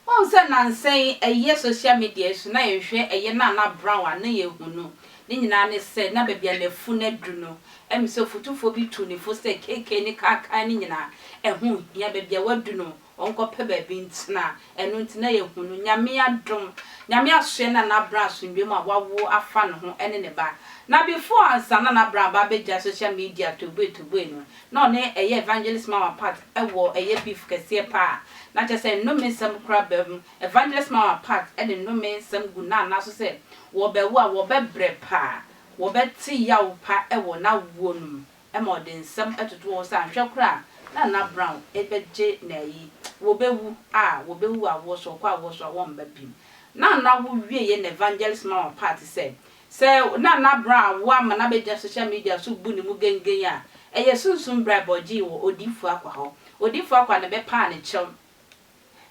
Wohu sɛ nnansa yi ɛyɛ social media yi so na yɛhwɛ ɛyɛ Nana Brown a na yɛhu no ne nyinaa ne sɛ na baabi a n'afunu adu no ɛm sɛ ɔfotufoɔ bi tuu ne fo sɛ KK ne Kaakaa no nyinaa ɛho nhia baabi a wadu no Ɔnkɔpɛ baabi ntena. Ɛno nti na yɛahu no. Nyame adom. Nyame asoɛ na n'abena asomdwoe mu a wawo afa ne ho ne ne ba. Na before ansa na n'abena aba abɛgyae social media toboe toboe no, na ɔne ɛyɛ Evangelist Mawah Pat wɔ ɛyɛ beef kɛseɛ paa. Na kyerɛ sɛ nnome nsɛm koraa bam. Evangelist Mawah Pat de nnome nsɛm gu Nana so sɛ wɔbɛwo a wɔbɛbrɛ paa. Wɔbɛte yaw pa wɔ n'awoɔ no mu. ma ɔde nsɛm toto hɔ sɛ anhwɛ koraa a na Nana Brown bɛgye n'ayi, wɔbɛwu a wɔbɛwu awoɔ so, wɔkɔ awoɔ so a wɔmma bim. Na Nana wo wieɛ na Evangelist Mawar part sɛ, sɛ Nana Brown awo ama no abɛgyina social media so bu ne mu gengen a, ɛyɛ sunsum bribe a ɔgyee wɔ Odiyifoɔ Akwah hɔ. Odiyifoɔ Akwah na ɛbɛpaa ne kyɛw.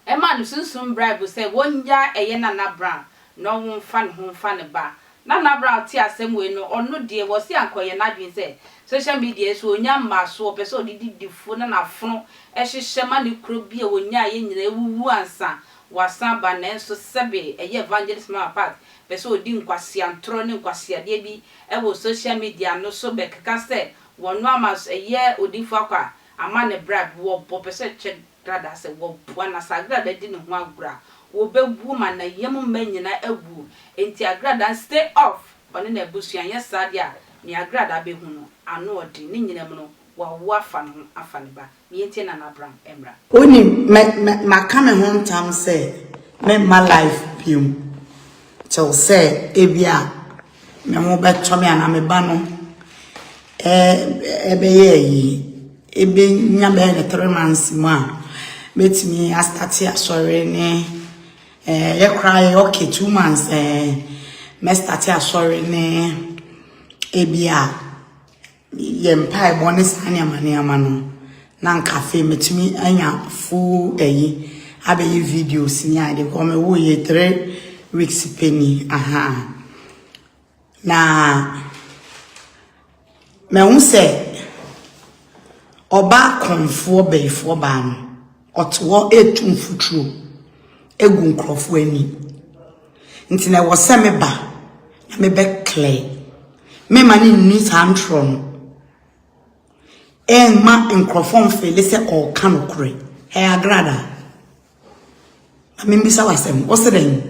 Ɛmaa no sunsum bribe sɛ wɔngyaa ɛyɛ Nana Brown na ɔwo mfa ne ho mfa ne ba. Nana Brown tee asɛm wei no, ɔno deɛ wɔse anka ɔyɛ n'adwene sɛ social media yi so ɔnya mmasoɔ, ɔpɛ sɛ ɔde di difoɔ na n'afono hyehyɛ ma ne kuro bi a ɔnyaeɛ nyinaa awuwu ansa wasan aba nanso sɛbe ɛyɛ Evangelist Mama Pat pɛ sɛ ɔdi nkwaseantorɔ ne nkwaseadeɛ bi wɔ social media no so bɛkeka sɛ wɔno ama ɛyɛ odiyifoɔ akɔ a ama ne bribe, wɔbɔ pɛ sɛ kyɛ Dada sɛ wɔboa no asaagra a bɛde ne ho agorɔ a, wɔbɛwuo ma n'ayam mma nyinaa awuo. Enti Agrada stay off ɔne n'abusua anyɛ saa deɛ a nea Agrada bɛhu no ano ɔden. Ne nyinam no wawo afa ne ho afa ne ba. Ne yɛntie Nana Brown mmra. Wonim, mɛ, mɛ, maka me ho ntam sɛ meremma live bio. Kyɛw sɛ, ebia Me ho bɛtɔ me anaa me ba no bɛyɛ ayi, ɛbɛnya bɛyɛ ne three months mu a, mɛtumi astate asɔre ne yɛ koraa yɛ okay two months mɛstate asɔre ne ebi a yɛ mpaebɔ ne saa nneɛma nneɛma no na nka afei mɛtumi anya full ɛyi abɛyɛ videos ne ade kɔ mɛwo yɛ three weeks pɛni aha na mɛhu sɛ ɔbaa kɔnfoɔ bɛyifoɔ baa no Ɔte hɔ retu mfuturo agu nkurɔfoɔ ani. Nti na ɛwɔ sɛ me ba na me bɛ clear. Me ma ne nni saa ntorɔ no. Ɛmma nkurɔfoɔ mfeele sɛ ɔreka nokorɛ. Ɛyɛ agrada. Na me mbisa wasɛm. Ɔsɛ dɛn?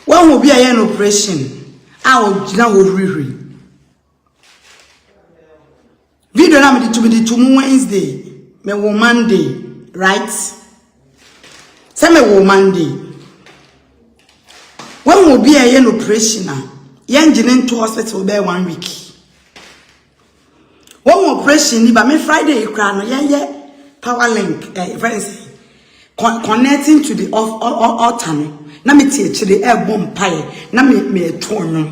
Wahu obi a yɛ no operation a ɔgyina hɔ hurihuri. Video na mede tumi de to mu Wednesday, me wo Monday, right? Sɛ me wo Monday. Wɔn mu obi a ɛyɛ no operation a, yɛn gye ne nto hospital bɛyɛ one week. Wɔn mu operation ni ba me Friday kura no yɛn yɛ power link ɛɛ eh, fɛn sɛ connecting to the altar no na me tie akyire ɛɛbɔ mpaeɛ na me me ɛto ɔnwom.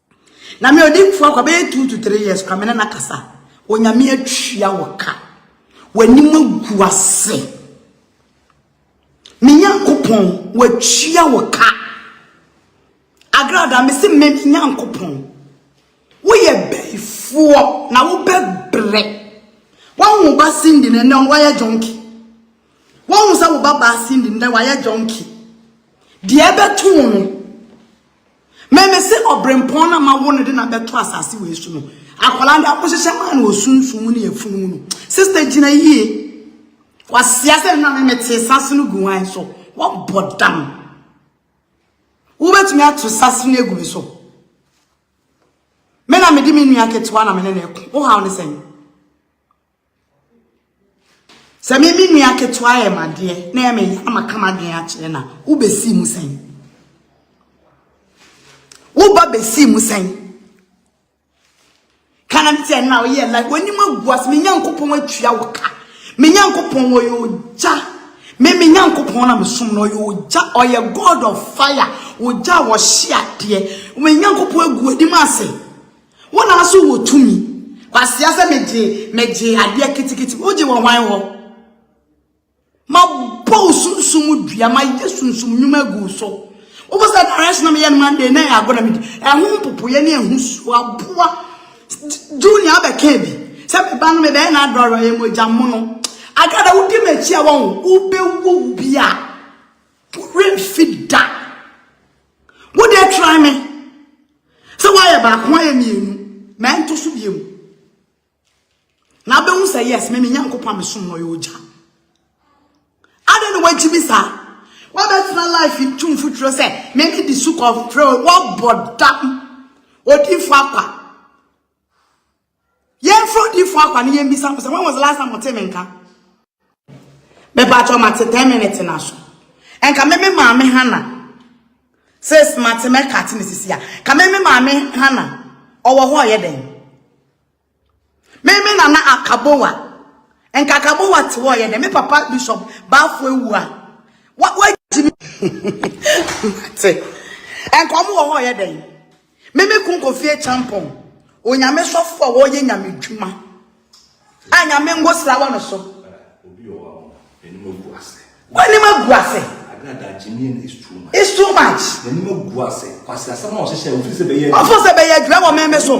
Na me odinfo akwa bɛyɛ two to three years kora me ne no kasa onyame atwia wo ka w'anim agu ase me nyankopɔn watwia wo ka agrada me se me nyankopɔn woyɛ bɛifoɔ na wobɛbrɛ wɔn wo ba sindi ne nnɛ wɔyɛ jɔnki wɔn wo sɛ wo ba baa sindi nnɛ wɔayɛ jɔnki deɛ ɛbɛto no Me me se ɔbrempɔn na ma wo no de na bɛto asase wei so no akwadaa de akɔhyehyɛ maa no osunsun mu ne afunu mu no sista gyina yie wasia sɛ na me mete sase no gu wan so wɔbɔ dam wobɛtumi ato sase no agu me so me na mede me nua ketewa na me ne no ɛko wohaw ne sɛn Sɛ me me nua ketewa yɛ madeɛ na ɛyɛ me nsa maka m'adwene akyerɛ no a, wobɛsii mu sɛn? Woba bɛsii mu sɛn? Kana bi sɛ na woyɛ like w'anim agu ase me Nyankopɔn atua wo ka. Me Nyankopɔn wɔyɛ ogya. Me me Nyankopɔn na mesom no ɔyɛ ogya ɔyɛ God of fire ogya a wɔhye adeɛ. Me Nyankopɔn agu anim ase. Wo na nso wɔ tumi. Kwasea sɛ megye megye adeɛ kitikiti wogye wɔ hwan hɔ? Mabɔ wo sunsum dua mayɛ sunsum nnwuma agu wo so. Wobɔ sɛ direction na meyɛ no Monday na ɛyɛ agorɔ na medi. Ɛho mpopoeɛ ne ɛho suo aboa junior abɛka bi sɛ meba no mebɛyɛ no adɔre ɔyɛ mogya mono. Agrada wodi m'akyi a wɔn wobɛwu bi a woremfi da. Wo deɛ try me. Sɛ woayɛ baako ayɛ mmienu. Ma ɛnto so bie mu. Na abɛhu sɛ yes, me me nyankopɔn a mesom no ɔyɛ ogya. Adɛn na wagyi me saa? Wabɛtena life ntu mfuturo sɛ meme di so kɔfrɛ wɔbɔ dam. Odifo apa. Yɛmfrɛ odiyifoɔ Akwa na yɛmmisa no sɛ, When was the last time wotee me nka? Mepakyɛw mate 10 minutes no aso. Ɛnka me me maame Hana. Sis mate mɛka te ne sisi a. Ka me me maame Hana. Ɔwɔ hɔ ɔyɛ dɛn? Me me nana Akabowa. Ɛnka Akabowa te hɔ ɔyɛ dɛn? Me papa Bishop Bafo ewu a. Wa wa gyimi. Mate. Ɛnka ɔmo wɔ hɔ ɔyɛ dɛn? Me me kun kofi akyampɔn onyame sɔfo a wɔyɛ nyame dwuma a nyame ngo sra wɔ no so w'anim agu ase it's too much ɔfo sɛ bɛyɛ adwuma wɔ meme so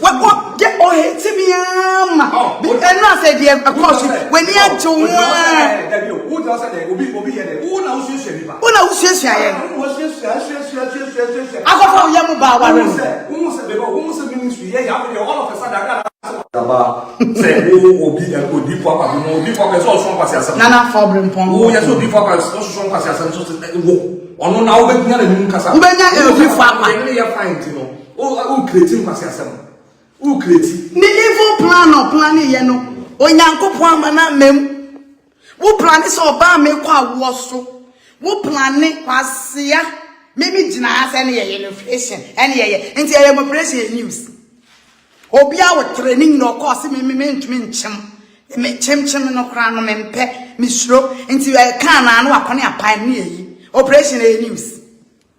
wakɔ gye ɔhete me ara ma ɛno asɛ deɛ ɛkɔ so w'ani agye wo ho ara wo na wosuasua yɛ akɔfa woyɛ mo baa ware nana fa ɔbere mpɔn wobɛnya ɛwofo akwa O a wo create nkwaseasɛm. Wo create. Ne evil plan a ɔplane yɛ no, Onyankopɔn ama no amam. Wo plane sɛ ɔbaa mekɔ awoɔ so. Wo plane kwasea. Me me gyina ha sɛ ɛne yɛyɛ no operation. Ɛne yɛyɛ. Nti yɛyɛ mo operation yɛ news. Obi a wotere ne nyina ɔkɔɔ se me me mentumi nkyem. Me kyemkyem no koraa no mempɛ. Mesuro. Nti ɛka anaa no wakɔne apae ne yɛyi. Operation yɛ news.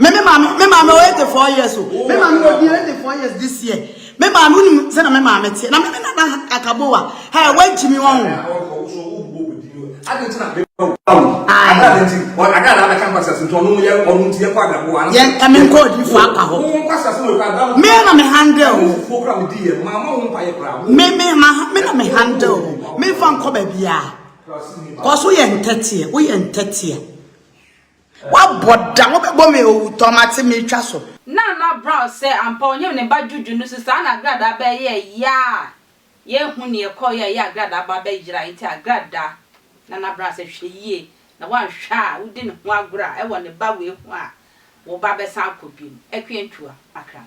Me me maame me maame ɔyɛ eighty four years o. Me maame na odi eighty four years this year. Me maame onim sɛ na me maame teɛ na me me nana akabowa ɛ wagyi mi wɔn. Yɛn ɛmi nkɔ odifo akwa hɔ. Me na me handle o. Me me ma me na me handle o. Me nfa nkɔ baabi a. Kɔ so yɛ ntɛteɛ woyɛ ntɛteɛ. Woabɔ da, wobɛbɔ me owutɔ, mate meretwa so. Nana Brown sɛ ampa ɔnyem ne ba Juju no so saa na Agradaa ba yɛɛ ya a yɛnhu neɛ ɛkɔɔyɛ a ɛyɛ Agradaa ba bɛ yera nti Agradaa Nana Brown sɛ hwɛ yie na woanhwɛ a wodi ne ho agorɔ a ɛwɔ ne ba wei ho a wo ba bɛsan akɔ biem Akua Ntua Akram.